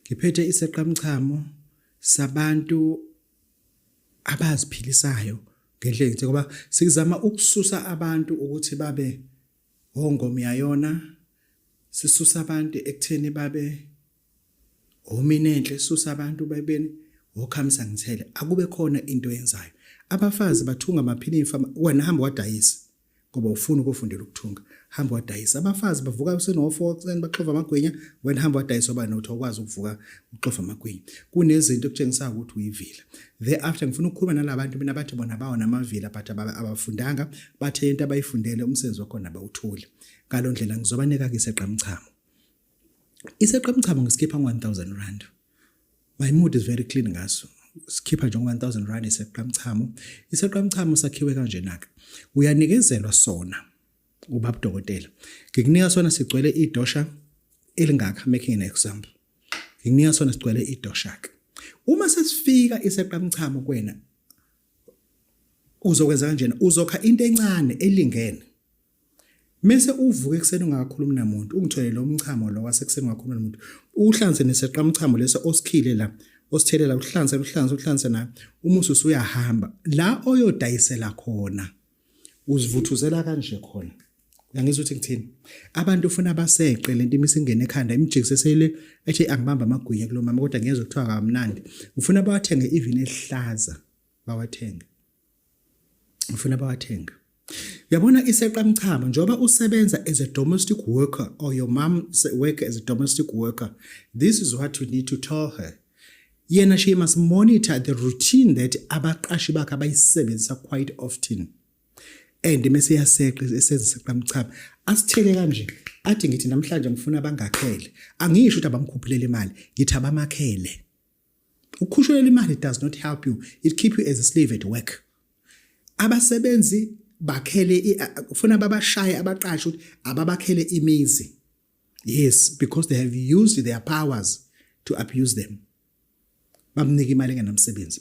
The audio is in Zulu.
ngiphethe iseqamchamo sabantu abaziphilisayo ngendlela engithi ngoba sikuzama ukususa abantu ukuthi babe ongomyayona sisusa abantu ekutheni babe omini enhle sisusa abantu bebeni wokhamisa ngithele akube khona into yenzayo abafazi bathunga amaphini imfama wena hamba wadayisa ngoba ufuna ukufundela ukuthunga hamba wadayisa abafazi bavuka usenofour ekuseni baxova amagwinya wena hamba wadayisa oba nothi okwazi ukuvuka uxova amagwinya kunezinto okutshengisayo ukuthi uyivila thereafter ngifuna ukukhuluma nalabantu mina bathi bona bawo namavila but abafundanga bathe into abayifundele umsebenzi wakhona bawuthule ngaloo ndlela ngizobanika-ke isegqamchamo iseqe umcabango sikhipha 1000 rand my mood is very clean ngaso sikhipha nje 1000 rand iseqe umchamo iseqe umchamo sakhiwe kanje naka uyanikezelwa sona ubaba dokotela ngikunika sona sigcwele idosha elingaka making an example ngikunika sona sigcwele idosha ke uma sesifika iseqe umchamo kwena uzokwenza kanjena uzokha into encane elingene Mese uvuka ekuseni ungakhulumi namuntu, ungitholele umchamo lo wasekuseni ungakhulumi namuntu. Uhlanze neseqa umchamo lesa osikhile la, osithelela uhlanze uhlanze uhlanze na umusu usuyahamba. La oyodayisela khona uzivuthuzela kanje khona. Uyangizwa ukuthi ngithini? Abantu ufuna baseqe lento imisingene ekhanda imjikise sele ethi angibamba amagwinya kulomama kodwa ngiyezwa kuthiwa kamnandi. Ufuna bawathenge even ehlaza bawathenge. ngifuna bawathenga Yabona iseqa mchamo njoba usebenza as a domestic worker or your mom work as a domestic worker this is what you need to tell her yena she must monitor the routine that abaqashi bakhe abayisebenzisa quite often and mese yaseqa eseziseqa mchamo asithele kanje athi ngithi namhlanje ngifuna abangakhele angisho ukuthi abamkhuphulele imali ngithi abamakhele Ukukhushulela imali does not help you. It keep you as a slave at work. Abasebenzi bakhele ufuna babashaye abaqashe ukuthi ababakhele imizi. Yes, because they have used their powers to abuse them. Bamnika imali engenamsebenzi.